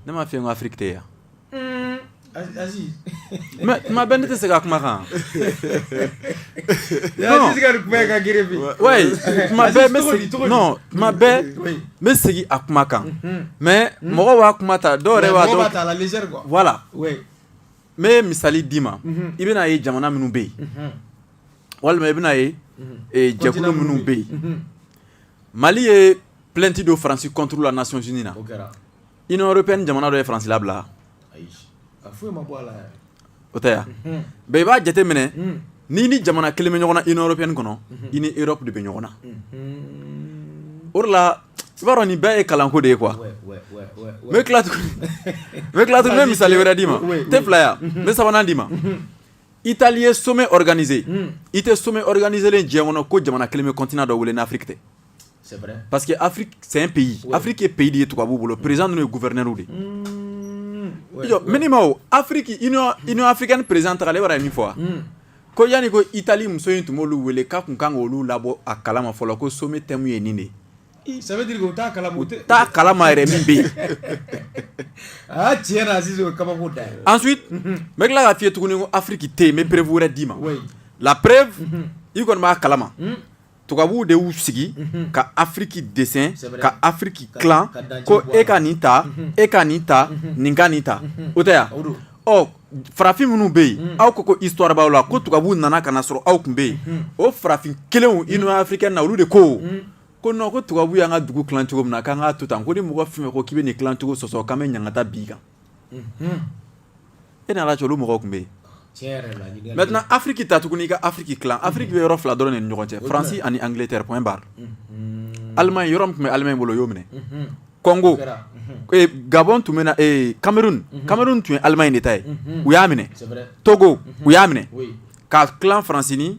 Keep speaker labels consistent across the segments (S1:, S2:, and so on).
S1: Ne m'a f'i ye ko afiriki tɛ yan tuma bɛɛ ne tɛ segin a kuma kan tuma bɛɛ n bɛ segin a kuma kan mais mɔgɔw b'a kuma ta dɔw yɛrɛ
S2: voilà n
S1: ye misali d'i ma i bɛna ye jamana minnu bɛ yen walima i bɛna ye jɛkulu minnu bɛ yen Mali ye plainte don faransi contre la Nations unies na Union européenne jamana dɔ ye faransi labila o tɛ yan bɛɛ i b'a jate minɛ n'i ni jamana kelen bɛ ɲɔgɔn na Union européenne kɔnɔ i ni Europe de bɛ ɲɔgɔn na o de la i b'a dɔn nin bɛɛ ye kalanko de ye quoi n bɛ tila n bɛ misali wɛrɛ d'i ma tɛ fila yan n bɛ sabanan d'i ma I taali ye somɛ k2e i tɛ somɛ k2e diɲɛ kɔnɔ ko jamana kelen bɛ kɔntan dɔ wele n'firi tɛ pa
S2: que fɛn
S1: pe yen afike peyi de ye tu b'u bolo perez n'u ye gufɛrɛɛrɛw de ye mini ma afiri afiri ni perez ta ale yɛrɛ ye min fɔ wa ko yanani ko i taali muso in tun b'olu wele k'a tun kan olu labɔ a kala ma fɔlɔ ko so tɛmu ye nin de ye
S2: kalama
S1: yɛrɛ min
S2: bɛ yen
S1: n bɛ tila k'a f'i ye tuguni ko afiriki tɛ yen n bɛ preuve wɛrɛ d'i ma la preuve i kɔni b'a kalama tubabuw de y'u sigi ka afiriki dessin ka afiriki tilan ko e ka nin ta e ka nin ta nin ka nin ta o tɛ yan ɔ farafin minnu bɛ yen aw ko ko histoire b'aw la ko tubabuw nana ka na sɔrɔ aw tun bɛ yen o farafin kelenw Union africaine na olu de ko ko non ko tubabu y'an ka dugu tilan cogo min na k'an k'a to tan ko ni mɔgɔ fɛn ko k'i bɛ nin tilan cogo sɔsɔ k'an bɛ ɲangata b'i kan e n'ala cɛ olu mɔgɔw tun bɛ yen maintenant afiriki ta tuguni i ka afiriki tilan afiriki bɛ yɔrɔ fila dɔrɔn de ni ɲɔgɔn cɛ faransi ani Angleterre point barre Allemagne yɔrɔ min tun bɛ Allemagne bolo u y'o minɛ Congo Gabon tun bɛ ee Cameroun Cameroun tun ye Allemagne de ta ye u y'a minɛ Togo u y'a minɛ ka tilan faransi ni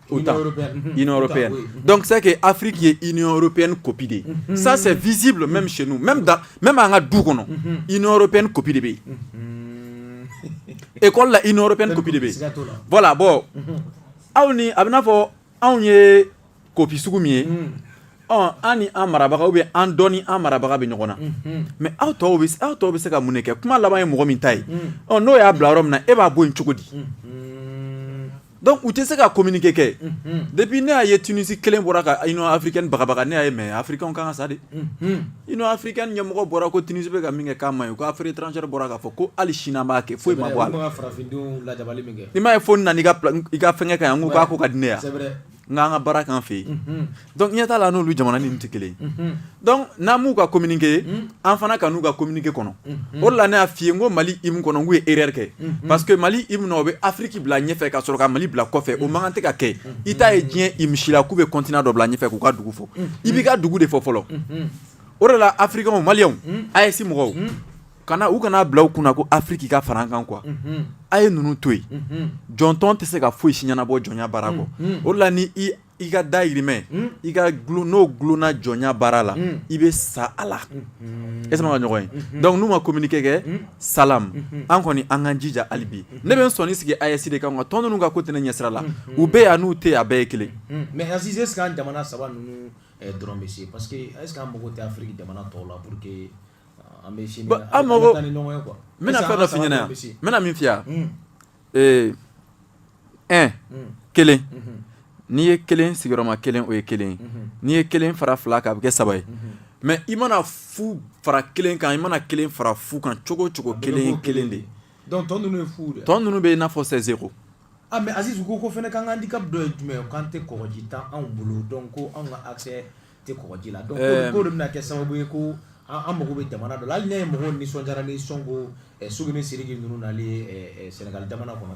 S1: donc c'est que Afrique ye Union européenne copie de ye ça c'est visible même chez nous même an ka du kɔnɔ Union européenne copie de bɛ yen école la Union européenne copie de bɛ yen voilà bon aw ni a bɛ n'a fɔ anw ye copie sugu min ye ɔ an ni an marabaga ou bien an dɔ ni an marabaga bɛ ɲɔgɔn na mais aw aw tɔw bɛ se ka mun de kɛ kuma laban ye mɔgɔ min ta ye n'o y'a bila yɔrɔ min na e b'a bɔ yen cogo di Donc u tɛ se ka communiqué kɛ depuis ne y'a ye Tunisie kelen bɔra ka Union africaine bagabaga ne y'a ye mais africainw kan ka sa de Union africaine ɲɛmɔgɔ bɔra ko Tunisie bɛ ka min kɛ k'a man ɲi ko affaire étrangère bɔra k'a fɔ ko hali sini a b'a kɛ foyi ma bɔ a la i m'a ye fo nana i ka fɛnkɛ ka yan ko k'a ko ka di ne ye nka an ka baara kan fɛ yen donc ɲɛ t'a la n'olu jamana ninnu tɛ kelen ye n'an b'u ka communiqué an fana kan'u ka communiqué kɔnɔ o la ne y'a f'i ye n ko mali hymne kɔnɔ n k'u ye erreur kɛ parce que mali hymne o bɛ afiriki bila ɲɛfɛ ka sɔrɔ ka mali bila kɔfɛ o man kan tɛ ka kɛ i t'a ye diɲɛ hymne si la k'u bɛ continent dɔ bila ɲɛfɛ k'u ka dugu fɔ i b'i ka dugu de fɔ fɔlɔ o de la africains o maliens AES mɔgɔw kana u kan'a bila u kunna ko afiriki ka fara kan quoi a ye ninnu to yen jɔntɔn tɛ se ka foyi si ɲɛnabɔ jɔnya baara kɔ o la i ka dayirimɛ hmm? i ka n'o gulonna jɔnya baara la hmm. i bɛ sa a la hmm. e sama ka ɲɔgɔn ye donc n'u ma communiqué kɛ salam an kɔni an k'an jija hali bi ne bɛ n sɔnni sigi AES de kan nka tɔn ninnu ka ko tɛ ne ɲɛsira la u bɛ yan n'u tɛ yen a bɛɛ ye kelen mais Aziz est ce que
S2: an jamana saba ninnu eh, dɔrɔn bɛ se parce que est ce que an mago tɛ Afiriki jamana tɔw la pour que eh, an bɛ sini an mago n bɛna fɛn dɔ f'i
S1: ɲɛna yan n bɛna min f'i ye yan ɛ kelen n'i ye kelen sigiyɔrɔma kelen o ye kelen ye n'i ye kelen fara fila kan a bɛ kɛ saba ye mais i mana fu fara kelen kan i mana kelen fara fu kan cogo o cogo kelen kelen
S2: de tɔn ninnu bɛ i n'a fɔ
S1: zéro mais
S2: Aziz ko ko fana k'an handicap dɔ ye jumɛn ye k'an tɛ kɔgɔji t'anw bolo donc ko anw ka accès tɛ kɔgɔji la donc ɛɛ k'o de bɛna kɛ sababu ye ko an mago bɛ jamana dɔ la hali n'a ye mɔgɔw nisɔndiyara ni Sonko ɛ Sugu ni Sidiki ninnu nali ye ɛ ɛ Senegal jamana kɔnɔ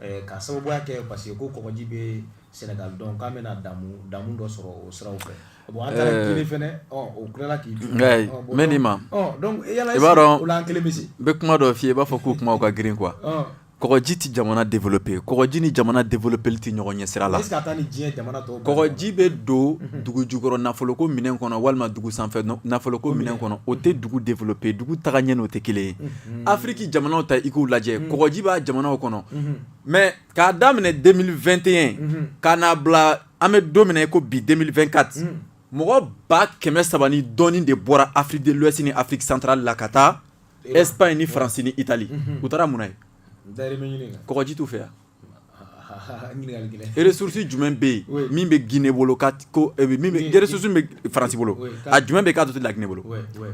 S2: ɛ ka sababuya kɛ parce que ko kɔgɔji bɛ Senegal donc k'an bɛna damu damu dɔ sɔrɔ o siraw fɛ bon an taara Guinee fana ɔ o tilala k'i jɔ ɔ bon n bɛ n'i ma
S1: ɔ donc yala est ce
S2: que
S1: o la an kelen bɛ
S2: se
S1: n bɛ kuma dɔ
S2: f'i
S1: ye i b'a fɔ k'u kumaw
S2: ka
S1: girin quoi ɔ Kɔgɔji tɛ jamana développer kɔgɔji ni jamana développerli tɛ ɲɔgɔn ɲɛ sira la
S2: kɔgɔji bɛ
S1: don dugu jukɔrɔ nafolo ko minɛn kɔnɔ walima dugu sanfɛ nafolo ko minɛn kɔnɔ o tɛ dugu développer dugu taga ɲɛ n'o tɛ kelen ye afiriki jamanaw ta i k'u lajɛ kɔgɔji b'a jamanaw kɔnɔ mais k'a daminɛ 2021 ka n'a bila an bɛ don min na i ko bi 2024 mɔgɔ ba kɛmɛ saba ni dɔɔnin de bɔra Afrique de l'Ouest ni Afrique centrale la ka taa Espagne ni faransi ni itali u taara mun na yen kɔgɔji t'u fɛ yan ressources jumɛn bɛ yen min bɛ gine bolo ressources min bɛ faransi bolo a jumɛn bɛ k'a dɔ tɛ laginɛ bolo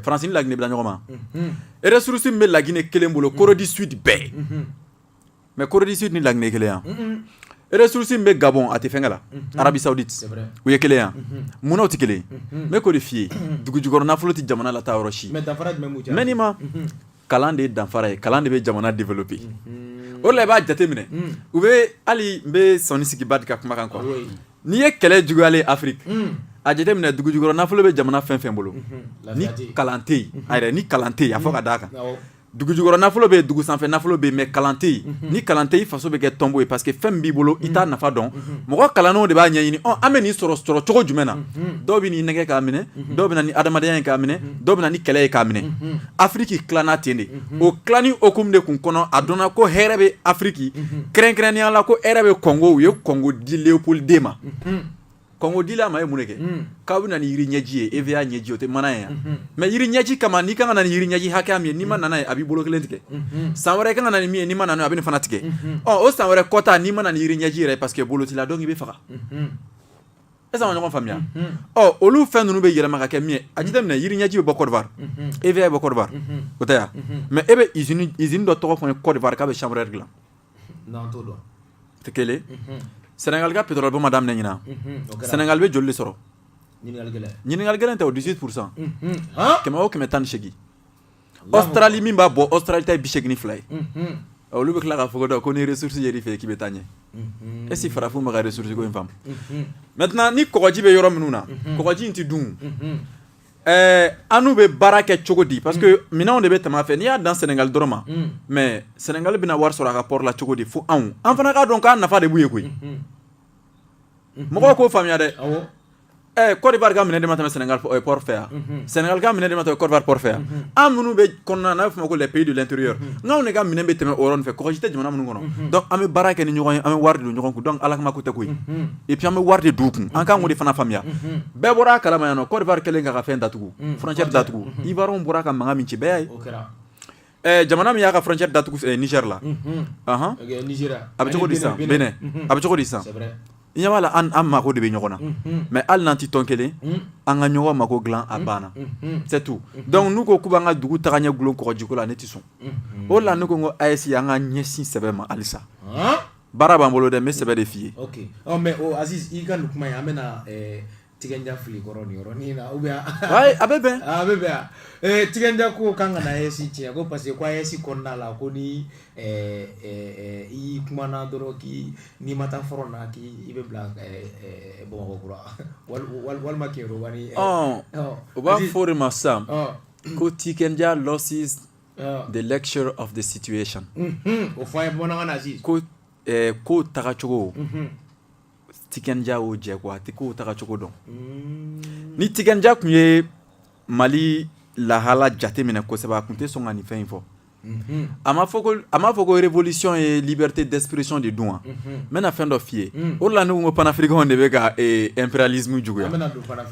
S1: faransi ni laginɛ bila ɲɔgɔn ma ressources min bɛ laginɛ kelen bolo Corée du Sud bɛɛ mais Corée du Sud ni laginɛ kelen yan ressources bɛ Gabon a tɛ fɛnkɛ la Arabie Saoudite u ye kelen yan munna u tɛ kelen n bɛ k'o de f'i ye dugu jukɔrɔ nafolo tɛ jamana lataa yɔrɔ si mais ni ma kalan de ye danfara ye kalan de bɛ jamana développer o la i b'a jate minɛ u bɛ hali n bɛ sɔnni sigi Badi ka kuma kan quoi n'i ye kɛlɛ juguyalen afiriki a jate minɛ dugu jukɔrɔ nafolo bɛ jamana fɛn o fɛn bolo ni kalan tɛ yen a yɛrɛ ni kalan tɛ yen a fɔ ka d'a kan dugujukɔrɔ nafolo bɛ yen dugu sanfɛ nafolo bɛ yen mais kalan tɛ yen ni kalan tɛ yen i faso bɛ kɛ tɔnbo ye parce que fɛn min b'i bolo i t'a nafa dɔn mɔgɔ kalannenw de b'a ɲɛɲini ɔ an bɛ nin sɔrɔ sɔrɔ cogo jumɛn na dɔw bɛ n'i nɛgɛ k'a minɛ dɔw bɛ na ni adamadenya ye k'a minɛ dɔw bɛ na ni kɛlɛ ye k'a minɛ Afiriki tilanna ten de o tilanni hukumu de tun kɔnɔ a dɔnna ko hɛrɛ bɛ Afiriki kɛrɛnkɛrɛnnenya la ko hɛrɛ bɛ Kɔngo u ye Kɔngo di Leopold II ma Kɔngo dila a ma ye mun de kɛ k'aw bɛ na ni yiri ɲɛji ye hévéa ɲɛji o tɛ mana ye mais yiri ɲɛji kama n'i kan ka na ni yiri ɲɛji hakɛya min ye n'i ma na n'a ye a b'i bolo kelen tigɛ san wɛrɛ i kan ka na ni min ye n'i ma na n'a a bɛ nin fana tigɛ ɔ o san wɛrɛ kɔta n'i ma na ni yiri ɲɛji yɛrɛ parce que bolo t'i la donc i bɛ faga est-ce que an ma ɲɔgɔn faamuya ɔ olu fɛn ninnu bɛ yɛlɛma ka kɛ min ye a jate minɛ yiri ɲɛji bɛ bɔ Cote d'Ivoire hévéa bɛ bɔ Cote d'Ivoire o tɛ yan mais e bɛ usine dɔ tɔgɔ fɔ n ye Cote d'Ivoire k'a bɛ chambre à air dilan n'an t'o dɔn tɛ kelen sɛnɛgali ka pétrole bɔ ma daminɛ ɲinan sɛnɛgali bɛ joli de sɔrɔ ɲininkali gɛlɛn tɛ o dix-huit pourcent kɛmɛ o kɛmɛ tan ni segin Australie min b'a bɔ Australie ta ye bi segin ni fila ye olu bɛ tila k'a fɔ dɔn ko ni ressources yɛr'i fɛ k'i bɛ taa ɲɛ est-ce que farafinw bɛ ka ressources ko in faamu maintenant ni kɔgɔji bɛ yɔrɔ minnu na kɔgɔji in tɛ dun Ɛɛ an n'u bɛ baara kɛ cogo di parce que minɛnw de bɛ tɛmɛ a fɛ n'i y'a dan Senegali dɔrɔn ma mais Senegali bɛna wari sɔrɔ a ka port la cogo di fo anw an fana k'a dɔn k'a nafa de b'u ye koyi mɔgɔw k'o faamuya dɛ ɛɛ Cote d'Ivoire ka minɛn de ma tɛmɛ Senegali port fɛ yan Senegali ka minɛn de ma tɛmɛ Cote d'Ivoire port fɛ yan an minnu bɛ kɔnɔna na n'a bɛ f'o ma ko les pays de l'intérieur n'anw de ka minɛn bɛ tɛmɛ o yɔrɔ ninnu fɛ kɔgɔji tɛ jamana minnu kɔnɔ donc an bɛ baara kɛ ni ɲɔgɔn ye an bɛ wari de don ɲɔgɔn kun donc Ala kama ko tɛ koyi et puis an bɛ wari de don u kun an kan k'o de fana faamuya. bɛɛ bɔra a kalama yan nɔ Cote d'Ivoire kɛlen k'a ka fɛn datugu frontière datugu Ivoiriens bɔra ka mankan min ci bɛɛ y'a ye, o kɛra, ɛ jamana min y'a ka frontière datugu ɛ Niger la, unhun, ɔnhɔn, ok Nizeriya, a bɛ cogo di sisan Benin a bɛ cogo di sisan c'est vrai, i ɲɛ b'a la an an mako de bɛ ɲɔgɔn na unhun, mais hali n'an tɛ tɔn kelen unhun, an ka ɲɔgɔn mako dilan a banna unhun, c'est tout donc n'u ko k'u b'an ka dugu tagaɲɛ gulon kɔgɔjiko la ne tɛ sɔn unhun, o de la ne ko n ko AES an ka ɲɛsin sɛbɛ ma halisa, han? baara b'an bolo dɛ n bɛ sɛbɛ de f'i ye ok ɔ mais o
S2: Aziz i ka nin kuma in an bɛna ɛɛ Tiken Jah fili kɔrɔ nin yɔrɔnin na ou bien wayi a bɛ bɛn
S1: a bɛ bɛn ɛɛ
S2: Tiken Jah ko k'an kana AES tiɲɛ ko parce que ko AES kɔnɔna la ko ni ɛɛ ɛɛ i kumana dɔrɔn k'i n'i ma taa front na k'i i bɛ bila ɛɛ Bamakɔ kura walima Kéniéroba ni ɔ u
S1: b'a fɔ o de ma sisan ko Tiken Jah loses the lecture of the situation o fɔ an
S2: ye bamanankan na sisan ko eh,
S1: kow tagacogo Tiken Jah y'o jɛ quoi a tɛ kow tagacogo dɔn ni Tiken Jah tun ye Mali lahala jate minɛ kosɛbɛ a tun tɛ sɔn ka nin fɛn in fɔ a ma fɔ ko a ma fɔ ko révolution ye liberté d'expression de dun wa n bɛna fɛn dɔ f'i ye o de la ne ko n ko panafricainw de bɛ ka eh, impérialisme juguya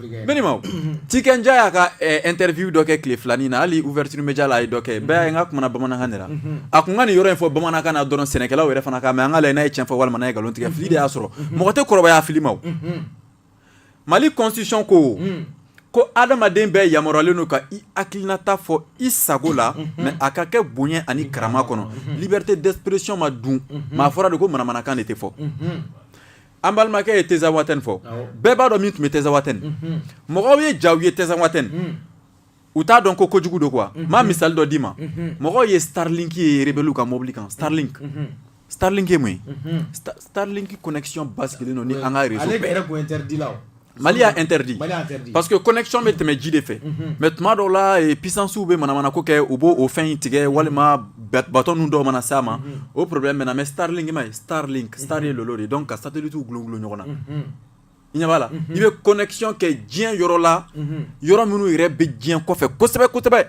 S1: Mɛ nin ma Tiken Jah y'a ka interview dɔ kɛ tile filanin na hali Ouverture Média la a ye dɔ kɛ bɛɛ n ka kuma bamanankan de la a tun ka nin yɔrɔ in fɔ bamanankan na dɔrɔn sɛnɛkɛlaw yɛrɛ fana k'a mɛn an k'a lajɛ n'a ye cɛ fɔ walima n'a ye nkalon tigɛ fili de y'a sɔrɔ mɔgɔ tɛ kɔrɔbaya fili ma Mali constitution ko ko adamaden bɛɛ yamaruyalen don ka i hakilinata fɔ i sago la mɛ a ka kɛ bonya ani karama kɔnɔ liberté d'expression ma dun maa fɔra de ko manamanakan de tɛ fɔ an balimakɛ ye Tinzawaten fɔ bɛɛ b'a dɔn min tun bɛ Tinzawaten mɔgɔw ye jaw ye Tinzawaten u t'a dɔn ko kojugu don quoi maa misali dɔ d'i ma mɔgɔw ye Starlink ye rebelle ka mobili kan
S2: Starlink Starlink
S1: ye mun ye Starlink connexion
S2: basigilen
S1: don ni an ka Mali y'a interdit parce que connexion bɛ tɛmɛ ji de fɛ mhm. mais tuma dɔw la eh, puissance bɛ manamana ko kɛ u b'o o fɛn in tigɛ walima bateau ninnu dɔw mana s'a ma mhm. o problème bɛ na mais Starlink ma ye Starlink mhm. Star ye lolo de ye donc ka satellite gulogulu ɲɔgɔn na i ɲɛ b'a la i bɛ connexion kɛ diɲɛ yɔrɔ la yɔrɔ minnu yɛrɛ bɛ diɲɛ kɔfɛ kosɛbɛ kosɛbɛ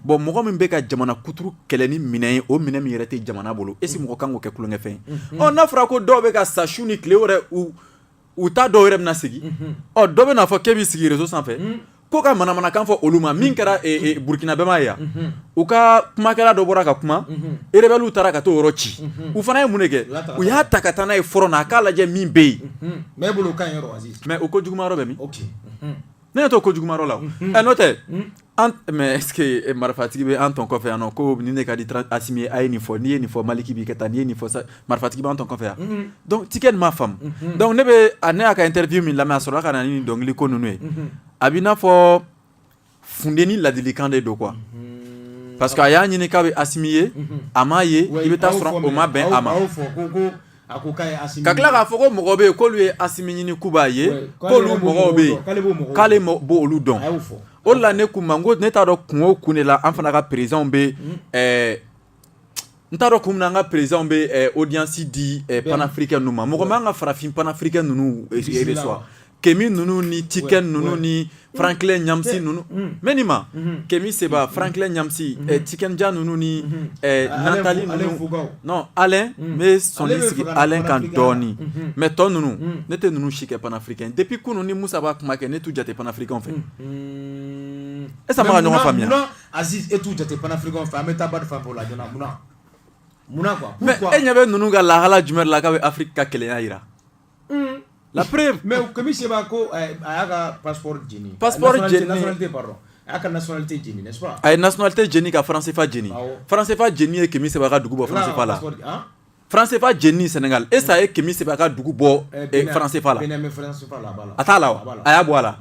S1: bon mɔgɔ min bɛ ka jamana kuturu kɛlɛ ni minɛn ye o minɛn min yɛrɛ tɛ jamana bolo est ce que mɔgɔ kan k'o kɛ tulonkɛfɛn ye ɔ n'a fɔra ko dɔw bɛ ka sa su ni tile wɛrɛ u u ta dɔw yɛrɛ bɛna sigi ɔ dɔ bɛn'a fɔ k'e b'i sigi reso sanfɛ ko ka manamanakan fɔ olu ma min kɛra Burukina bɛɛ m'a ye yan u ka kumakɛla dɔ bɔra ka kuma rebellew taara ka t'o yɔrɔ ci u fana ye mun de kɛ u y'a ta ka taa n'a ye front na a k'a lajɛ min bɛ yen
S2: mɛ o ko juguman yɔrɔ bɛ min
S1: Ne ɲɛ t'o ko juguman yɔrɔ la ɛ n'o tɛ mɛ est ce que marifatigi bɛ an tɔn kɔfɛ yan ko ni ne ka di Asimi ye a ye nin fɔ n'i ye nin fɔ Maliki b'i kɛ tan n'i ye nin fɔ marifatigi b'an tɔn kɔfɛ yan dɔnku Tiken m'a faamu dɔnku ne bɛ ne y'a ka interview min lamɛn a sɔrɔla ka na ni nin dɔnkili ko ninnu ye a b'i n'a fɔ funteni ladilikan de don quoi parce que a y'a ɲini k'a bɛ Asimi ye a m'a ye i bɛ taa sɔrɔ o ma bɛn a ma A ko k'a ye Asimi ɲini, ka tila k'a fɔ ko mɔgɔ bɛ yen k'olu ye Asimi ɲini k'u b'a ye Ouais, k'ale k'olu yɛrɛ b'o mɔgɔw mɔgɔw bɛ yen dɔn, k'ale b'o mɔgɔw k'ale dɔn. mɔ- b'olu dɔn a y'o fɔ o de la ne k'u ma n ko ne t'a dɔn kun o kun de la an fana ka perezanw bɛ ɛɛ n t'a dɔn kun min na an ka perezanw bɛ ɛɛ odiyansi di ɛɛ panafirikɛn ninnu ma mɔgɔ ma an ka farafin panafirikɛn ninnu Bisimila. reçoit Kemi ninnu ni Tiken ninnu ni Franklin Nyamsi ninnu mɛ nin ma Kemi Seba Franklin Nyamsi Tiken Jah ninnu ni Nathalie ninnu non Alain n bɛ sɔnni sigi Alain kan dɔɔni mɛ tɔ ninnu ne tɛ ninnu si kɛ panafirikɛn ye depuis kunun ni Musa b'a kuma kɛ ne t'u jate panafirikɛnw fɛ est ce que an bɛ ka ɲɔgɔn faamuya munna Aziz e
S2: t'u jate panafirikɛnw fɛ an bɛ taa Badi fan fɛ o la joona munna munna quoi pourquoi mais e ɲɛ bɛ ninnu ka
S1: lahala jumɛn de la k'a bɛ Afrique ka kelenya jira La preuve mais Kemi Seba
S2: ko a y'a ka passeport jeni pardon a ka nationalité jeni a ye nationalité jeni
S1: ka franc CFA jeni franc CFA jeni ye Kemi Seba ka dugu bɔ franc CFA la franc CFA jeni Sénégal est ce que a ye Kemi Seba ka dugu bɔ franc CFA la a t'a la wa a y'a bɔ a la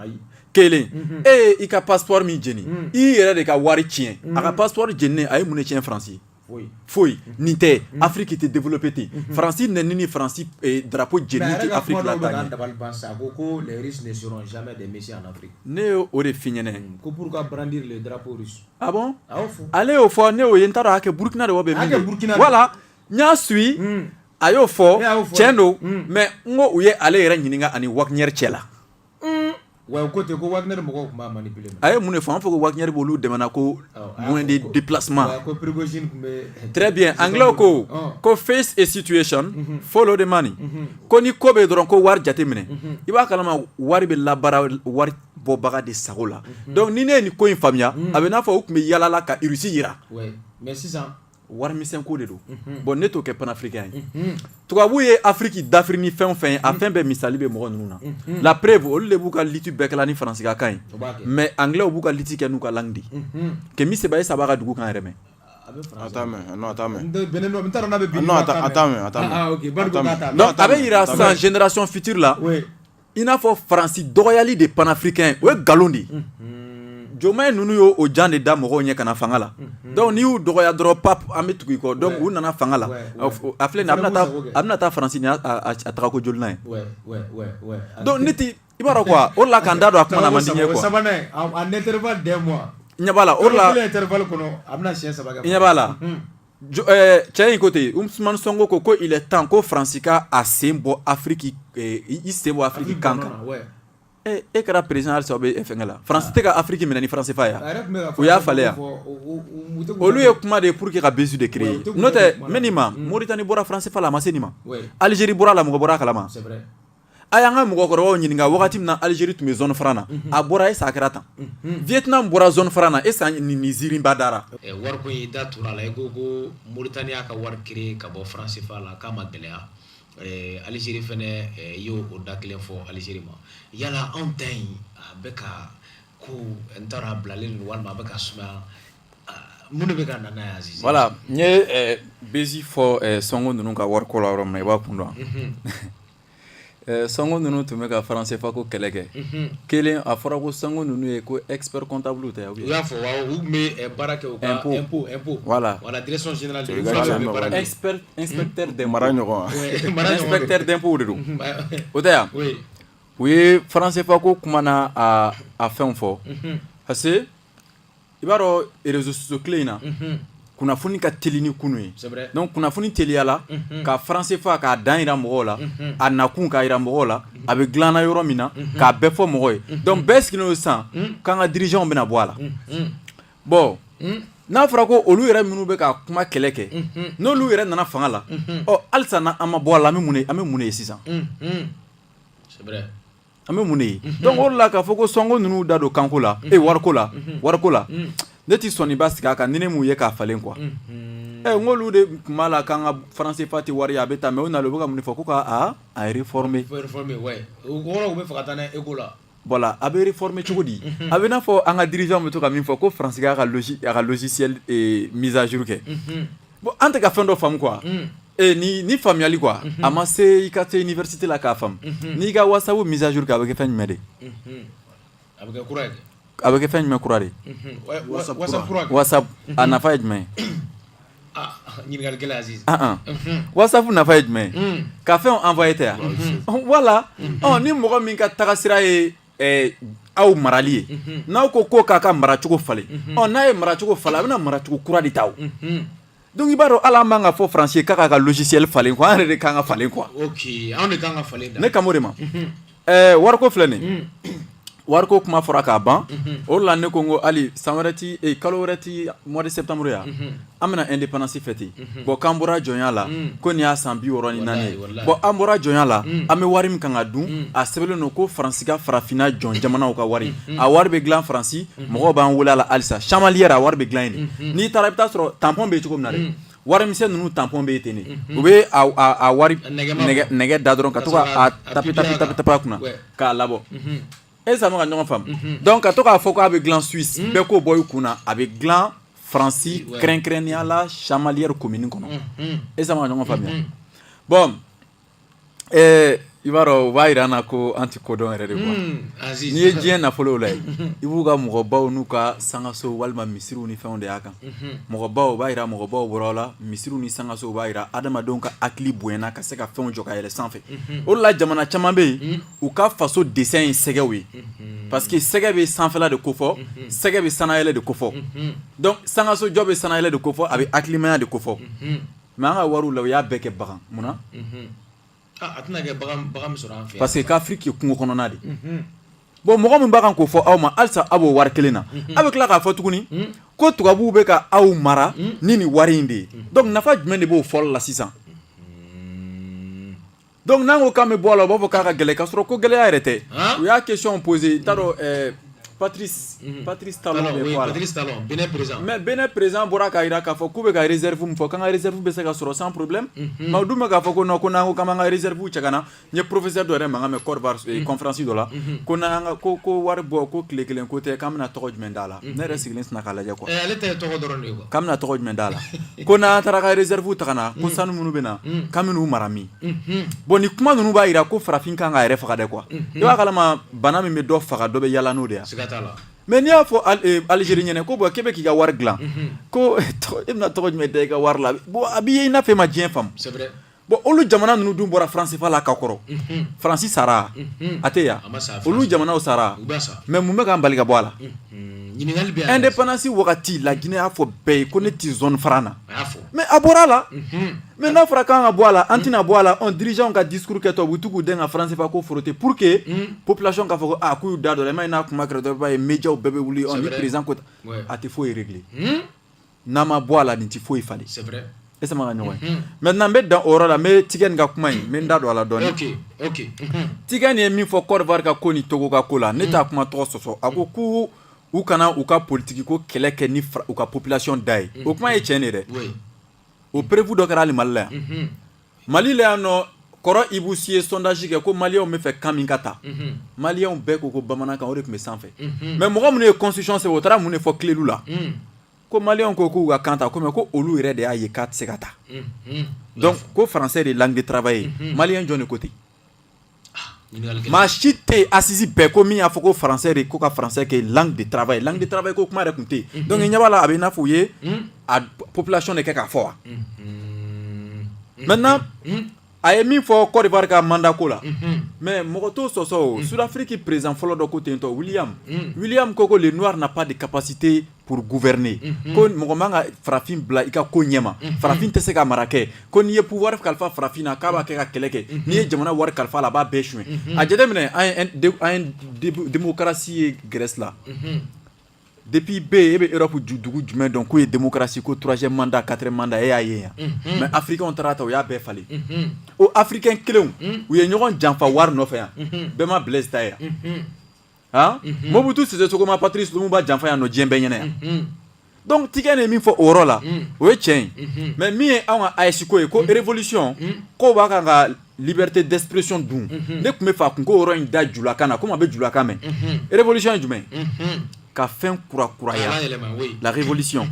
S1: kelen e i ka passeport min jeni i yɛrɛ de ka wari tiɲɛ a ka passeport jeninen a ye mun de tiɲɛ faransi foyi nin tɛ mm-hmm. afiriki tɛ développé ten mm-hmm. faransi nɛni ni faransi eh, darapo jeni tɛ afiriki la
S2: taa ɲɛ ne ye o de f'i ɲɛna
S1: mm, ko pour brandir
S2: le drapeau russe ah
S1: bon ale y'o fɔ ne y'o ye n t'a dɔn a kɛ burukina de wa bɛ min voilà n y'a suit mm. a y'o fɔ tiɲɛ don mm. mais n ko u ye ale yɛrɛ ɲininka ani Wagner cɛ la
S2: Ouais ko ten ko Wagner mɔgɔw tun b'a manipuler a ye mun de fɔ a ma fɔ
S1: ko Wagner b'olu dɛmɛna ko moyen de déplacement très bien anglais ko ko face a situation follow the money ko ni ko bɛ dɔrɔn ko wari jate minɛ i b'a kalama wari bɛ labaara wari bɔbaga de sago la dɔnku ni ne ye nin ko in faamuya a bɛ n'a fɔ u tun bɛ yaala la ka rusi yira warimisɛnko de don bɔn ne t'o kɛ panafirikɛn ye tubabu ye afiriki dafiri ni fɛn o fɛn ye a fɛn bɛɛ misali bɛ mɔgɔ ninnu na la preuve olu de b'u ka liti bɛɛ kɛla ni faransikakan ye mais anglais b'u ka liti kɛ n'u ka langue di Kemi Seba ye saba ka dugu kan yɛrɛ mɛn a bɛ yira sisan génération future la i n'a fɔ faransi dɔgɔyali de panafirikɛn o ye nkalon de ye Diomaye ninnu y' o jan de da mɔgɔw ɲɛ ka na fanga la dɔnku n'i y'u dɔgɔya dɔrɔn pap an bɛ tugu i kɔ dɔnku u nana fanga la a filɛ a bɛna taa faransi n'a tagako jolinan ye dɔnku ne tɛ i b'a dɔn o la k'an da don a kuma na man di n
S2: ye ɲɛ b'a la o
S1: la
S2: b'a la
S1: Eh, cɛ in ko ten usumani sɔnko ko ko il est temps ko Faransi ka a sen bɔ Afriki eh, i sen bɔ Afriki kan kan e e kɛra président halisa o bɛ fɛnkɛ la Faransi ah. tɛ ka Afriki minɛ ni franc CFA ye wa u y'a falen yan olu ye kuma de ye pour que ka buzz de créer n'o tɛ n bɛ nin ma Mauritanie bɔra franc CFA la a ma se nin ma Algérie bɔra a la mɔgɔ bɔra a kalama. a y'an ka mɔgɔkɔrɔbaw ɲininka wagati min na Algérie tun bɛ zone franc na a bɔra est ce que a kɛra tan Vietnam bɔra zone franc na est ce que nin nin ziirinba dara wari ko in i da
S2: tugura a la i ko ko Mauritanie y'a ka wari créer ka bɔ franc CFA la k'a ma gɛlɛya Algérie fɛnɛ y'o o da kelen fɔ Algérie ma yala anw ta in a bɛ ka ko n t'a dɔn a bilalen don walima a bɛ ka sumaya Voilà n
S1: ye Bezi fɔ Sonko ninnu ka wariko la yɔrɔ min na i b'a kun dɔn Sonko ninnu tun bɛ ka franc CFA ko kɛlɛ kɛ kelen a fɔra ko Sonko ninnu ye ko expert comptable tɛ u y'a fɔ
S2: baara kɛ
S1: voilà mara ɲɔgɔn inspecteur d'impôt de don o
S3: tɛ
S1: yan u ye franc CFA ko kuma n'a fɛn fɔ parce i b'a dɔn réseaux sociaux tile in na kunnafoni ka teli ni kunu ye donc kunnafoni teliyala ka franc CFA k'a dan jira mɔgɔw la a nakun k'a jira mɔgɔw la a bɛ dilana yɔrɔ min na k'a bɛɛ fɔ mɔgɔ ye donc bɛɛ sigilen don sisan k'an ka dirigeantw bɛna bɔ a la bon n'a fɔra ko olu yɛrɛ minnu bɛ ka kuma kɛlɛ kɛ n'olu yɛrɛ nana fanga la ɔ halisa n' an ma bɔ a la an bɛ mun an bɛ mun de ye sisan An bɛ mun de ye donc o de la k'a fɔ ko Sonko ninnu da don kanko la e wariko la wariko la ne tɛ sɔn ba sigi a kan ni ne m'u ye k'a falen quoi ɛ n ko olu de tun b'a la k'an ka franc CFA tɛ wari ye a bɛ taa mais u nana u bɛ ka mun de fɔ ko k'a réformer voilà a bɛ réformer cogo di a bɛ n'a fɔ an ka dirigeant bɛ to ka min fɔ ko faransi k'a ka logiciel mise à jour kɛ Bon an tɛ ka fɛn dɔ faamu quoi unn ee nii ni faamuyali quoi unhun a ma se i ka se université la k'a faamu unhun n'i ka whatsapp mise à jour kɛ a bɛ kɛ fɛn jumɛn de ye unhun
S2: a bɛ kɛ kura ye kɛ a bɛ kɛ fɛn jumɛn kura
S1: de ye unhun wa whatsapp kura whatsapp kura kɛ whatsapp unhun a nafa ye jumɛn ye
S2: ah ɲininkali gɛlɛn Aziz an an unhun
S1: whatsapp nafa ye jumɛn ye unnn ka fɛnw envoyer tɛ a unhun voilà ɔɔ ni mɔgɔ min ka tagasira ye aw marali ye n'aw ko ko k'a ka maracogo falen n'a ye maracogo falen a bɛna maracogo kura de ta o donc i b'a dɔn hali an bɛ k'a fɔ faransi k'a ka logiciel falen quoi an yɛrɛ de ka kan ka falen
S2: quoi ne kan b'o de
S1: ma wariko filɛ nin wariko kuma fɔra k'a ban o la ne ko n ko hali san wɛrɛ tɛ kalo wɛrɛ tɛ mois de septembre yan an bɛna indépendance fêter bon k'an bɔra jɔnya la ko nin y'a san biwɔɔrɔ ni naani ye bon an bɔra jɔnya la an bɛ wari min kan ka dun a sɛbɛnnen don ko faransi ka farafinna jɔn jamanaw ka wari a wari bɛ dilan faransi mɔgɔ b'an wele la halisa chamalière a wari bɛ dilan yen n'i taara i bɛ t'a sɔrɔ tampon bɛ yen cogo min na dɛ warimisɛn ninnu tampon bɛ yen ten de u bɛ wari nɛgɛ da dɔrɔn ka to tapi tapi tapi a kunna k'a labɔ e sa maa ka ɲɔgɔn faamu donc ka to k'a fɔ k'a bɛ dilan suisse bɛɛ k'o bɔ i kun na a bɛ dilan faransi kɛrɛnkɛrɛnnenya la chamalière commune kɔnɔ e sa maa ka ɲɔgɔn faamuya bon eh, i b'a dɔn u b'a jira an na ko an tɛ ko dɔn yɛrɛ de quoi n'i ye diɲɛ nafolow lajɛ i b'u ka mɔgɔbaw n'u ka sangaso walima misiriw ni fɛnw de y'a kan mɔgɔbaw u b'a jira mɔgɔbaw bɔra la misiriw ni sangaso u b'a jira adamadenw ka hakili bonyana ka se ka fɛnw jɔ ka yɛlɛ sanfɛ o de la jamana caman bɛ yen u ka faso dessin ye sɛgɛw ye parce que sɛgɛ bɛ sanfɛla de ko fɔ sɛgɛ bɛ sannayɛlɛn de ko fɔ donc sangasojɔ bɛ sannayɛlɛn de ko fɔ a bɛ hakilimaya de ko fɔ mais an ka wariw la u y'a bɛɛ kɛ bagan munna
S2: parce que k'Afrique
S1: kungo kɔnɔna de bon mɔgɔ min b'a kan k'o fɔ aw ma halisa aw b'o wari kelen na aw bɛ tila k'a fɔ tuguni ko tubabuw bɛ ka aw mara ni ni wari in de ye donc nafa jumɛn de b'o fɔli la sisan Donc n'an ko k'an bɛ bɔ a la u b'a fɔ k'a ka gɛlɛn k'a sɔrɔ ko gɛlɛya yɛrɛ tɛ, u y'a question poser n t'a dɔn ɛɛ Patrice, unhun, Patrice Talon bɛ bɔ a la, Patrice Talon
S2: Benin president, mais Benin president bɔra
S1: k'a jira k'a fɔ k'u bɛ ka reserve min fɔ k'an ka reserve bɛ se ka sɔrɔ sans problème, unhun, mais u dun bɛ k'a fɔ ko non ko n'an ko k'an b'an ka reserve cɛ ka na, n ye professeur dɔ yɛrɛ mankan mɛn Cote d'Ivoire conférence dɔ la, unhun, ko n'an y'an ka ko ko wari bɔ ko tile kelen ko tɛ k'an bɛna tɔgɔ jumɛn d'a la ne yɛrɛ sigilen sinna k'a lajɛ quoi ale ta ye tɔgɔ dɔrɔn de
S2: ye quoi k'an bɛna tɔgɔ jumɛn d'a
S1: la ko n'an taara ka réserve ta ka na ko sanu minnu bɛ na k'an bɛn'u mara min bon nin kuma ninnu b'a jira ko farafin kan k'a yɛrɛ faga dɛ quoi i b'a kalama bana min bɛ dɔ faga dɔ bɛ yaala n'o de ye siga t'a la mais n'i
S2: y'a
S1: fɔ Algérie ɲɛna ko bon k'e bɛ k'i ka wari dilan ko e bɛna tɔgɔ jumɛn da i ka wari la bon a b'i ye i n'a fɔ e ma diɲɛ faamu c'est vrai
S2: Bon olu jamana
S1: ninnu dun bɔra franc CFA la ka kɔrɔ, unhun, Fransi sara, unhun, a tɛ yen wa, a ma sa, olu jamanaw sara, u bɛɛ sara, mais mun bɛ k'an bali ka bɔ a la, unhun, ɲininkali bɛ yan, independance wagati la Guinee y'a fɔ bɛɛ ye ko ne tɛ zone franc na, a y'a fɔ, mais a bɔra a la, unhun, mais n'a fɔra k'an ka bɔ a la, an tɛna bɔ a la, ɔ dirigeants ka discours kɛtɔ u bɛ to k'u dɛn ka franc CFA ko frotter pour que population k'a fɔ ko aa k'u y'u da don a la, i m'a ye n'a kuma kɛra dɔrɔn i b'a ye mediaw bɛɛ bɛ wuli, ɔ ni président ko tan, a tɛ foyi régler n'a ma bɔ a la nin tɛ foyi falen c'est vrai est ce que an bɛ ka ɲɔgɔn ye unhun maintenant n bɛ dan o yɔrɔ la n bɛ Tiken ka kuma in n bɛ n da don a la dɔɔni ok ok unhun Tiken ye min fɔ Cote d'Ivoire ka ko ni Togo ka ko la ne t'a kuma tɔgɔ sɔsɔ a ko ko u kana u ka politique ko kɛlɛ kɛ ni u ka population da ye o kuma ye tiɲɛ de ye dɛ oui o preuve dɔ kɛra hali Mali la yan unhun Mali la yan nɔ kɔrɔ Ibou Sy ye sondage kɛ ko maliyɛnw bɛ fɛ kan min ka ta maliyɛnw bɛɛ ko ko bamanankan o de tun bɛ sanfɛ mais mɔgɔ minnu ye constitution sɛbɛn o taara mun de fɔ Kledu la ko maliyɛnw ko k'u ka kan ta ko mais ko olu yɛrɛ de y'a ye k'a tɛ se ka ta donc ko français de langue de travail ye maliyɛn jɔnni ko ten Maa si tɛ asisi bɛɛ ko min y'a fɔ ko faransɛ de ko ka faransɛ ke de tarawele ye de tarawele ye ko kuma de tun tɛ yen dɔnkili ɲɛ'a la a bɛ n'a fɔ u ye a pplasiɔn de kɛ k'a fɔ wa mɛ a ye min fɔ kɔri barika manda ko la mɛ mɔgɔ to sɔsɔ suffi perezan fɔlɔ dɔ ko tentɔ wulimu ko ko n' na pa de ka pasite pour gouverner ko mɔgɔ man ka farafin bila i ka ko ɲɛma farafin tɛ se ka mara kɛ ko n'i ye pouvoir kalifa farafin na k'a b'a kɛ ka kɛlɛ kɛ n'i ye jamana wari kalifa la a b'a bɛɛ suɲɛ a jate minɛ an ye démocratie ye Grèce la depuis bɛ e bɛ Europe dugu jumɛn dɔn k'o ye démocratie ko troisième mandat quatrième mandat e y'a ye yan mais afirikɛnw taara ta u y'a bɛɛ falen o afirikɛn kelen u ye ɲɔgɔn janfa wari nɔfɛ yan bɛɛ ma Blaise ta ye yan mhm. Mobutu Sese Seko ma Patrice Lumumba janfa yan nɔ diɲɛ bɛɛ ɲɛna yan mhm. donc Tikɛn ye min fɔ o yɔrɔ la mhm. o ye tiɲɛ ye mais min ye anw ka AES ko ye ko révolution k'u b'a kan ka liberté d'expression dun ne tun bɛ fɛ a kun k'o yɔrɔ in da julakan na komi a bɛ julakan mɛn révolution ye jumɛn ye ka fɛn kura kuraya la révolution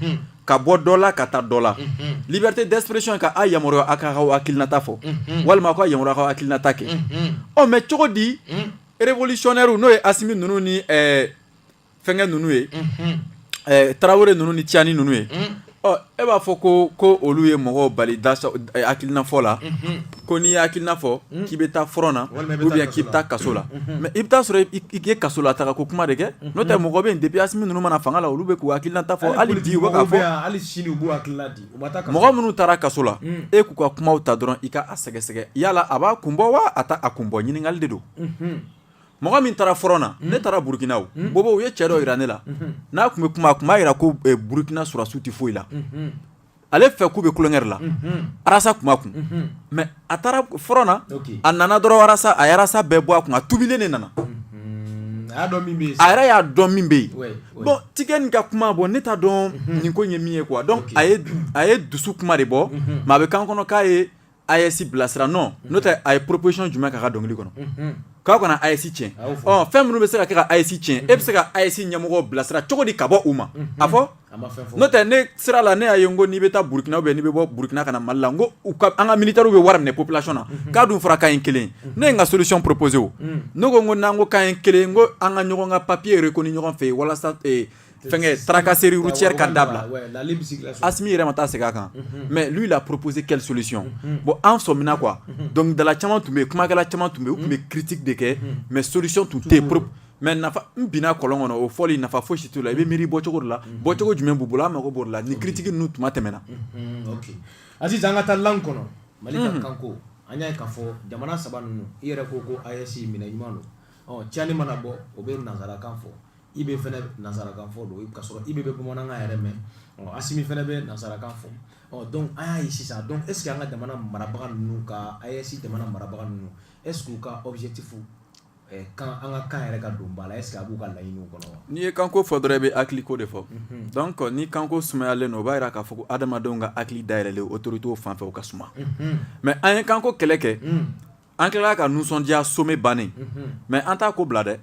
S1: ka bɔ dɔ la ka taa dɔ la mhm. liberté d'expression ka a yamaruya a ka ka hakilinata fɔ mhm. walima a ka yamaruya ka hakilinata kɛ mhm. ɔ mais cogo di révolutionnairew n'o ye Asimi ninnu ni fɛnkɛ ninnu ye tarawele ninnu ni Tiani ninnu ye ɔ e b'a fɔ ko olu ye mɔgɔw bali hakilina fɔ la ko n'i ye hakilina fɔ k'i bɛ taa front na ou bien k'i bɛ taa kaso la mais i bɛ taa sɔrɔ i ye kaso la taga ko kuma de kɛ n'o tɛ mɔgɔ bɛ depuis Asimi ninnu ma na fanga la olu bɛ k'u hakilinata fɔ hali bi u bɛ k'a fɔ mɔgɔ minnu taara kaso la e k'u ka kumaw ta dɔrɔn i ka a sɛgɛsɛgɛ yala a b'a kun bɔ wa a t'a kun bɔ ɲininkali de don mɔgɔ min taara front na ne taara burukina Bobo u ye cɛ dɔ jira ne la n'a tun bɛ kuma a tun b'a jira ko burukina sɔrɔsiw tɛ foyi la ale fɛ k'u bɛ tulonkɛ la arasa tun b'a kun mais a taara front na a nana dɔrɔn arasa a y'arasa bɛɛ bɔ a kun a tuubilen de nana a yɛrɛ y'a dɔn min bɛ yen bon Tikɛn nin ka kuma bon ne t'a dɔn nin ko ye min ye quoi donc a ye dusu kuma de bɔ mais a bɛ kan kɔnɔ k'a ye AES bilasira non n'o tɛ a ye proposition jumɛn k'a ka dɔnkili kɔnɔ k'a kana AES tiɲɛ ɔ fɛn minnu bɛ se ka kɛ ka AES tiɲɛ e bɛ se ka AES ɲɛmɔgɔ bilasira cogo di ka bɔ u ma a fɔ n'o tɛ ne sira la ne y'a ye ko n'i bɛ taa burukina ou bien n'i bɛ bɔ burukina ka na mali la ko an ka militairew bɛ wari minɛ population na mhm. k'a dun fɔra k'an ye kelen mhm. ne ye n ka solution proposer o mhm. ne ko ko n'an ko k'an ye kelen ko an ka ɲɔgɔn ka papier reconnu ɲɔgɔn fɛ yen walasa eh, fɛnkɛ tracasserie routière ka dabila asimi yɛrɛ ma taa segin a kan mais lui il a proposé quelle solution bon an sɔmina quoi dɔnkilidala caman tun bɛ yen kumakɛla caman tun bɛ yen u tun bɛ critique de kɛ mais solution tun tɛ yen mais nafa n binna kɔlɔn kɔnɔ o fɔli nafa fosi t'o la i bɛ miiri bɔcogo de la mhm. bɔcogo jumɛn b'u bolo an mako b'o de la ni critique ninnu tuma tɛmɛna mhm,
S2: a sisan an ka taa langue kɔnɔ mali ka mhm. kanko an y'a ye k'a fɔ jamana saba ninnu i yɛrɛ ko ko AES minɛ ɲuman don ɔ Tiani mana bɔ o bɛ nansarakan fɔ IB fana nansarakan fɔ donc ka sɔrɔ IB bɛ bamanankan yɛrɛ mɛn ɔ asimi fana bɛ nansarakan fɔ ɔ donc an y'a ye sisan donc est-ce que an ka jamana marabaga ninnu ka AES jamana marabaga ninnu est-ce que u ka objectif kan an ka kan yɛrɛ ka don ba la est ce que a b'u ka laɲiniw kɔnɔ wa n'i ye kanko fɔ dɔrɔn i
S1: bɛ hakiliko de fɔ mhm. donc ni kanko sumayalen don o b'a yira k'a fɔ ko adamadenw ka hakili dayɛlɛlen autoritew fan fɛ o ka suma mhm. mais an ye kanko kɛlɛ kɛ mhm. an tilala ka nisɔndiya sommet bannen mais an t'a ko bila dɛ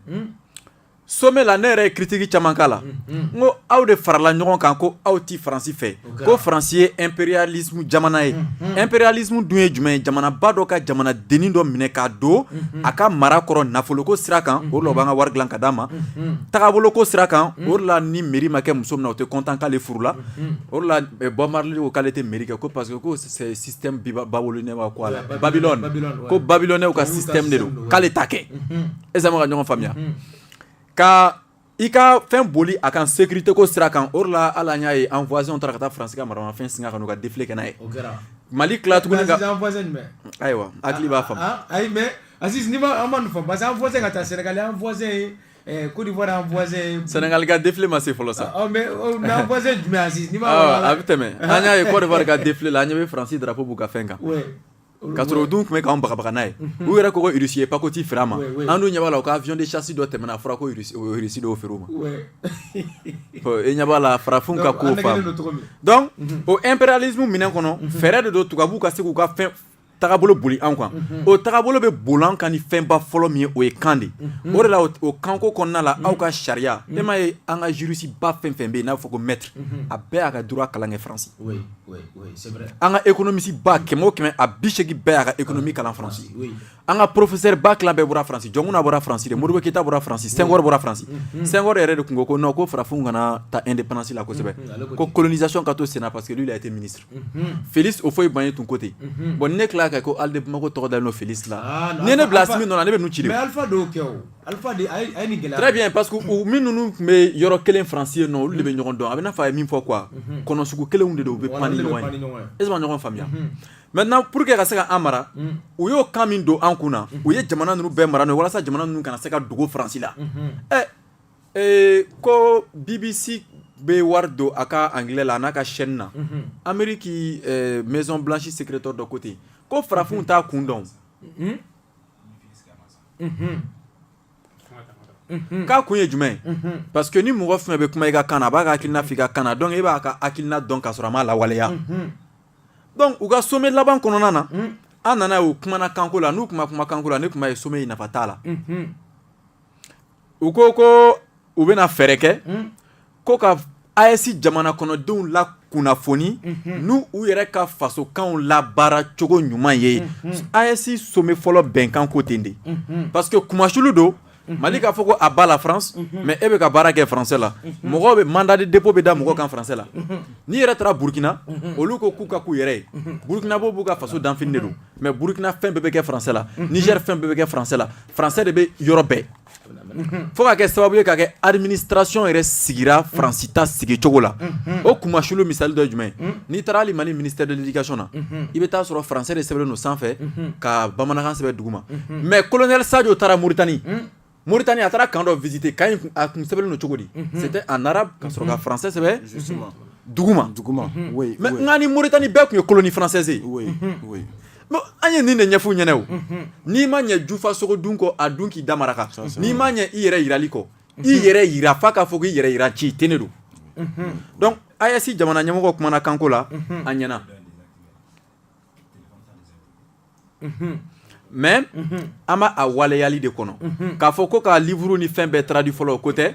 S1: sommet la ne yɛrɛ ye kiritiki caman k'a la n ko aw de farala ɲɔgɔn kan ko aw ti faransi fɛ ko faransi ye impérialisme jamana ye impérialisme dun ye jumɛn ye jamanaba dɔ ka jamana denin dɔ minɛ k'a don a ka mara kɔrɔ nafoloko sira kan o de la u b'an ka wari dilan ka d'an ma tagaboloko sira kan o de la ni mairie ma kɛ muso min na o tɛ content k'ale furula o de la Bob Marley ko k'ale tɛ mairie kɛ ko parce que ko système babylonien wa quoi la Babylone ko babiloni ka système de don k'ale t'a kɛ est ce que an bɛ ka ɲɔgɔn faamuya ka I ka fɛn boli a kan segte ko sira kan o la ala y'a ye an fɔz taara ka taa fara ka maramafɛn sin ka ka difi ka ye mali tilat ayiwa hakili b'a fɔ ayi
S2: mɛ ka taa sɛnɛkazse ko sɛnɛkali ka difi ma
S1: se fɔlɔ sa
S2: a bɛ tɛmɛ
S1: an y'a ye kɔɔri ka difi la an ɲɛ bɛ faransi da ko b'u ka fɛn kan Ka sɔrɔ u dun tun bɛ k'an bagabaga n'a ye, unhun, u yɛrɛ ko ko Russie ye pakoti feere an ma, wɛ wɛ, an dun ɲɛ b'a la u ka avion de chasse dɔ tɛmɛna a fɔra ko Russie u ye Russie dɔw feere u ma, wɛ, ɔ e ɲɛ b'a la farafinw ka ko faamu, donc an nɛgɛnen don cogo min, donc unhun, o imperialisme minɛn kɔnɔ, unhun, fɛɛrɛ de don tubabuw ka se k'u ka fɛn tagabolo boli an kan, unhun, o tagabolo bɛ boli an kan ni fɛnba fɔlɔ min ye o ye kan de ye, unhun, o de la o kanko kɔnɔna la aw ka sariya, unhun, e m'a ye an ka jurisiba fɛn o fɛn bɛ yen n'a bɛ fɔ ko maître a bɛɛ y'a ka droit kalan kɛ France, oui, oui an ka economiste ba kɛmɛ o kɛmɛ a bi seegin bɛɛ y'a ka economie kalan France an ka professeur ba tila bɛɛ bɔra France Jɔnkuna bɔra France de Modibo Keyita bɔra France Senghor bɔra France Senghor yɛrɛ de tun ko ko non ko farafinw kana ta indépendance la kosɛbɛ ko colonisation ka to senna parce que lui il a été ministre Felix Houphouët-Boigny tun ko ten bon ni ne tilala ka ko Halles de Bamako tɔgɔ dalen don Felix la n'i ye ne bila Assimi nɔ la ne bɛ ninnu ci de o.
S2: Alifa de a ye nin gɛlɛya très bien parce que u min
S1: ninnu tun bɛ yɔrɔ kelen France yen nɔ olu de bɛ ɲɔgɔn dɔn a bɛ n'a fɔ a ye min fɔ quoi mhm. kɔnɔ sugu kelenw de don u bɛ pan ni ɲɔgɔn ye est ce que ɲɔgɔn faamuya mhm. maintenant pour que ka se ka an mara mhm. u y'o kan min don an kun na u ye jamana ninnu bɛɛ mara n'o ye walasa jamana ninnu kana se ka dogo France la ɛ eh, ko BBC bɛ wari don a ka anglais la a n'a ka chaîne na Amérique eh, maison blanche secrétaire dɔ ko ten ko farafinw t'a kun dɔn k'a kun ye jumɛn parce que ni mɔgɔ fɛn bɛ kuma i ka kan na a b'a ka hakilina f'i ka kan na donc e b'a ka hakilina dɔn ka sɔrɔ a m'a lawaleya donc u ka sommet laban kɔnɔna na an nana ye u kumana kanko la n'u tun ma kuma kanko la ne tun b'a ye sommet in nafa t'a la u ko ko u bɛna fɛɛrɛ kɛ ko ka AES jamana kɔnɔdenw lakunnafoni n' u yɛrɛ ka fasokanw labaara cogo ɲuman ye AES sommet fɔlɔ bɛnkan ko ten de parce que kumasulu don mali k'a fɔ ko à bas la France mais e bɛ ka baara kɛ français la mɔgɔ bɛ mandat de dépôt bɛ da mɔgɔ kan français la n'i yɛrɛ taara burukina olu ko k'u ka k'u yɛrɛ ye burukinabɛ b'u ka faso danfini de don mais burukina fɛn bɛɛ bɛ kɛ français la Niger fɛn bɛɛ bɛ kɛ français la français de bɛ yɔrɔ bɛɛ fo ka kɛ sababu ye ka kɛ administration yɛrɛ sigira faransi ta sigi cogo la o kumasulu misali dɔ ye jumɛn n'i taara hali mali ministère de l'éducation na i bɛ taa sɔrɔ français de sɛbɛnnen don sanfɛ ka bamanankan sɛbɛn duguma mais colonel Sadio taara Mauritanie Mauritanie a taara camp dɔ visiter camp in a kun sɛbɛnnen don cogo di c'était en arabe ka sɔrɔ ka français sɛbɛn duguma mais nka ni Mauritanie bɛɛ tun ye colonie française ye An ye nin de ɲɛf'u ɲɛna o n'i ma ɲɛ jufa sogo dun kɔ a dun k'i da maraka n'i ma ɲɛ i yɛrɛ jirali kɔ i yɛrɛ jira fo k'a fɔ k'i yɛrɛ jira ci ten de don donc AES jamana ɲɛmɔgɔ kumana kanko la an ɲɛna mais an b'a a waleyali de kɔnɔ k'a fɔ ko ka livre ni fɛn bɛɛ traduit fɔlɔ o ko tɛ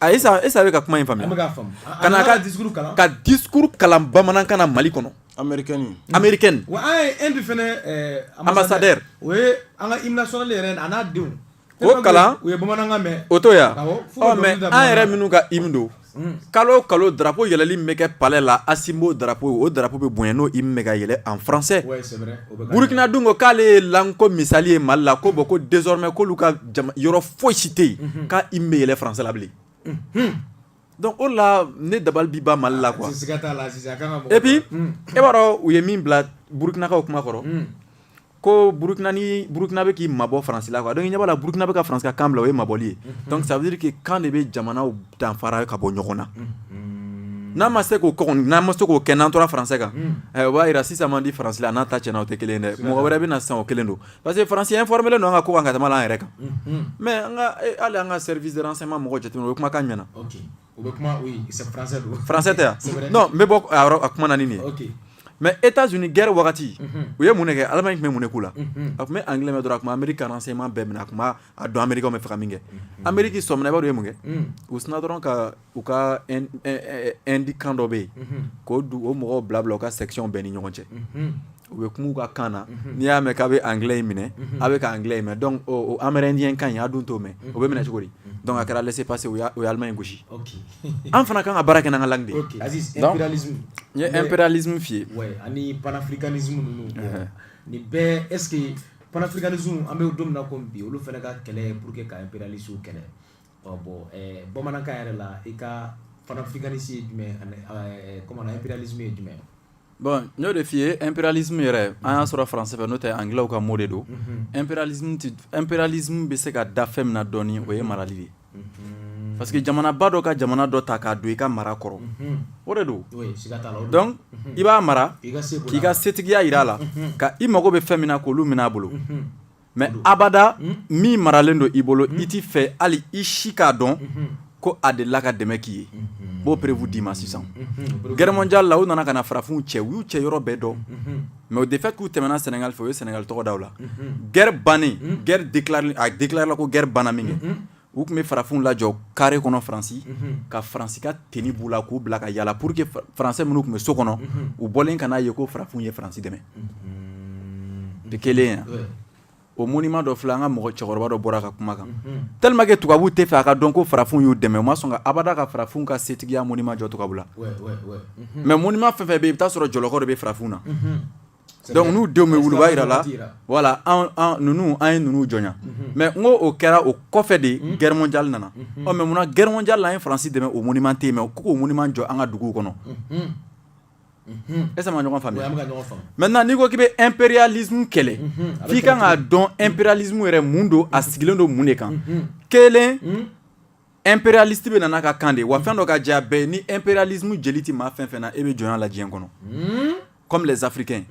S1: Est-ce a bɛ ka kuma in faamuya ka na ka discours kalan bamanankan na mali kɔnɔ américain ambassadeur o ye
S2: an ka hymne national yɛrɛ a n'a denw o kalan u
S1: ye bamanankan mɛn
S2: o to
S1: yan mais an yɛrɛ minnu ka hymne don kalo kalo drapeau yɛlɛli min bɛ kɛ palais la Assimi b'o drapeau o drapeau bɛ bonya n'o hymne bɛ ka yɛlɛ en français burukina dun ko k'ale ye langue ko misali ye mali la ko bon ko désormais k'olu ka yɔrɔ foyi si tɛ yen k'a hymne bɛ yɛlɛ français la bilen donc o la ne dabali bi ban Mali la quoi et puis e b'a dɔn u ye min bila Burkinakaw kuma kɔrɔ ko Burkina bɛ k'i mabɔ Faransi la quoi donc i ɲɛ b'a la Burkina bɛ ka Faransi ka kan bila o ye mabɔli ye donc ça veut dire que kan de bɛ jamanaw danfara ka bɔ ɲɔgɔn na n'a ma se k'o kɛ kɔni n'an ma se k'o kɛ n'an tora français kan o b'a jira sisan man di Faransi la a n'a ta cɛnna o tɛ kelen ye dɛ mɔgɔ wɛrɛ bɛ na sisan o kelen don pa parce que faransɛ f bɛ nɔ ka ko ka tɛmɛ an yɛrɛ kan mɛ ala an ka sɛ sema mɔgɔ jate o kuma ka ɲɛna faransɛ tɛ yan n bɛ bɔ a kuma na nin mɛ e t' sun gɛrɛ wagati u ye mun kɛ ala in tun bɛ mun k' la a tun bɛ an kɛlen dɔrɔn a tun anri sema bɛɛ minɛ a tun b' dɔn anmeri bɛ fɛ min kɛ anmeri sɔminabaa ye mun kɛ u sun dɔrɔn ka u ka indi kan dɔ bɛ yen k'o o mɔgɔw bila bila u ka section bɛɛ ni ɲɔgɔn cɛ u bɛ kuma u ka kan na n'i y'a mɛn k'a bɛ anglais in minɛ a bɛ ka anglais in mɛn donc amérindien kan in a dun t'o mɛn o bɛ minɛ cogo di donc a kɛra laisser-passer u ye Allemagne gosi an fana kan ka baara kɛ n'an ka langue de impérialisme f'i ye ani
S2: panafricanisme ninnu nin bɛɛ est-ce que panafricanisme an bɛ don min na ko bi olu fana ka kɛlɛ pour que ka impérialisme kɛlɛ Ɔ bon ɛɛ bamanankan yɛrɛ la i ka panafricanisme ye jumɛn ye ani ɛɛ comment on dit impérialisme ye jumɛn ye? bon n y'o de
S1: f'i ye impérialisme yɛrɛ an y'a sɔrɔ français fɛ n'o tɛ anglais ka mot de don, unhun, impérialisme tɛ impérialisme bɛ se ka da fɛn min na dɔɔni o ye marali de ye, unhun, parce que jamanaba dɔ ka jamana dɔ ta k'a don i ka mara kɔrɔ, unhun, o de don, oui siga t'a la, o de don, donc i b'a mara k'i ka setigiya jira a la, unhun, ka i mago bɛ fɛn min na k'olu minɛ a bolo, unhun. mais abada hmm? min maralen don i bolo hmm? i t'i fɛ hali i si k'a dɔn hmm. ko a delila ka dɛmɛ k'i ye b'o preuve d'i ma sisan guerre mondiale la u nana ka na farafinw cɛ u y'u cɛ yɔrɔ bɛɛ dɔn mais de fait k'u tɛmɛna sɛnɛgali fɛ u ye sɛnɛgali tɔgɔ da u la guerre bannen guerre déclaréla ko guerre banna min kɛ u tun bɛ farafinw lajɔ carré kɔnɔ faransi ka faransi ka tenue b'u la k'u bila ka yaala pour que français minnu tun bɛ so kɔnɔ u bɔlen kana a ye ko farafinw ye faransi dɛmɛ de kelen yan o monument dɔ filɛ an ka mɔgɔ cɛkɔrɔba dɔ bɔra ka kuma kan tellement que tubabuw t'a fɛ a ka dɔn ko farafinw y'u dɛmɛ u ma sɔn abada ka farafinw ka setigiya monument jɔ tubabu la mais monument fɛn fɛn bɛ yen i bɛ t'a sɔrɔ jɔlɔkɔ de bɛ farafinw na Dɔnku n'u denw bɛ wulu'a jira la wala ninnu an ye ninnu jɔn mɛ n ko o kɛra o kɔfɛ de ye gɛrɛrɛn jali nana ɔ mɛ munna gɛrɛrɛn ja la yesi dɛmɛ o miniman tɛ ma ko mun man jɔ an ka dugu kɔnɔ e ma ɲɔgɔn faamuya mɛ na n'i ko k'i bɛ eperyali kɛlɛ k'i kan k'a dɔn eperyalimu yɛrɛ mun don a sigilen don mun de kan kelen Impérialiste bɛ na n'a ka kan de wa fɛn dɔ ka jɛya bɛɛ ni impérialisme jeli tɛ maa fɛn fɛn na e bɛ jɔnya la diɲɛ kɔnɔ comme les Africains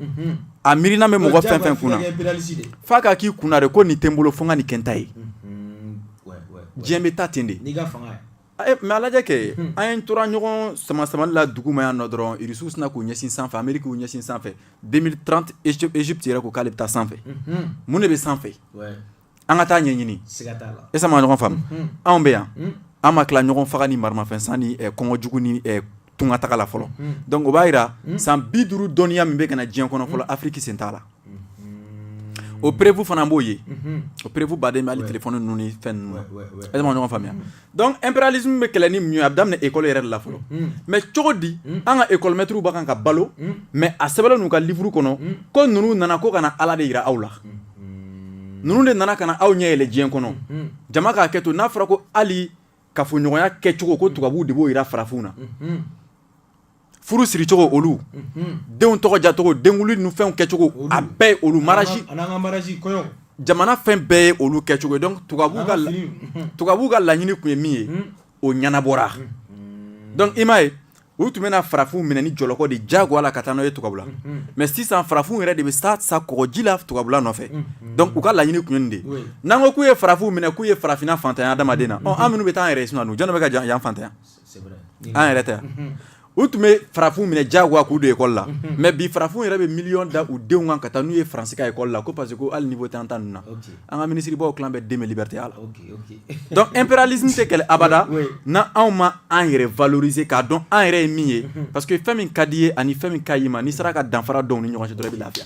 S1: a miirina bɛ mɔgɔ fɛn fɛn kunna f'a k'a k'i kun na de ko nin tɛ n bolo fo n ka nin kɛ n ta ye diɲɛ bɛ taa ten de mais a lajɛ kɛ an tora ɲɔgɔn sama samali la dugu ma yan nɔ dɔrɔn irisiw sinna k'u ɲɛsin sanfɛ Ameriki y'u ɲɛsin sanfɛ deux mille trente Égypte yɛrɛ ko k'ale bɛ taa sanfɛ mun de bɛ sanfɛ an ka taa ɲɛɲini est-ce an bɛ ka ɲɔgɔn faamu anw bɛ yan an ma tila ɲɔgɔn faga ni maramafɛn san ni kɔngɔ jugu ni tunga taga la fɔlɔ donc o b'a jira san bi duuru dɔnniya min bɛ ka na diɲɛ kɔnɔ fɔlɔ afiriki sen t'a la o preuve fana b'o ye o preuve ba de ye hali téléphone ninnu ni fɛn ninnu est-ce an bɛ ɲɔgɔn faamuya donc impérialisme bɛ kɛlɛ ni mun ye a bɛ daminɛ école yɛrɛ de la fɔlɔ mais cogo di an ka école mɛtiriw b'a kan ka balo mais a sɛbɛnlen n'u ka livre kɔnɔ ko ninnu nana ko ka na ala de yira aw la ninnu de nana ka na aw ɲɛ yɛlɛ diɲɛ kɔnɔ jama k'a kɛ to n'a fɔra ko hali kafoɲɔgɔnya kɛcogo ko tubabuw de b'o yira farafinw na furu siricogo olu denw tɔgɔ dacogo denkundi ni fɛnw kɛcogo a bɛɛ ye olu mariage jamana fɛn bɛɛ ye olu kɛcogo ye donc tubabuw ka tubabuw ka laɲini tun ye min ye o ɲɛnabɔra donc i m'a ye u tun bɛna farafinw minɛ ni jɔlɔkɔ de diyagoya la ka taa n'o ye tubabu la mais sisan farafinw yɛrɛ de bɛ sa sa kɔgɔji la tubabula nɔfɛ donc u ka laɲini tun ye nin de n'an ko k'u ye farafinw minɛ k'u ye farafinna fantanya adamaden na an minnu bɛ taa an yɛrɛ ye sinon jɔn bɛ ka yan fantanya an yɛrɛ tɛ u tun bɛ farafin minɛ diyagoya k'u don école la mais bi farafin yɛrɛ bɛ miliyɔn da u denw kan ka taa n'u ye faransi ka école la ko parce que hali niveau tɛ an ta ninnu na an ka minisiribaw tila bɛɛ den bɛ liberté a la donc impérialisme tɛ kɛlɛ abada n' anw ma an yɛrɛ valoriser k'a dɔn an yɛrɛ ye min ye parce que fɛn min ka di i ye ani fɛn min ka ɲi i ma n'i sera ka danfara don u ni ɲɔgɔn cɛ dɔrɔn i bɛ lafiya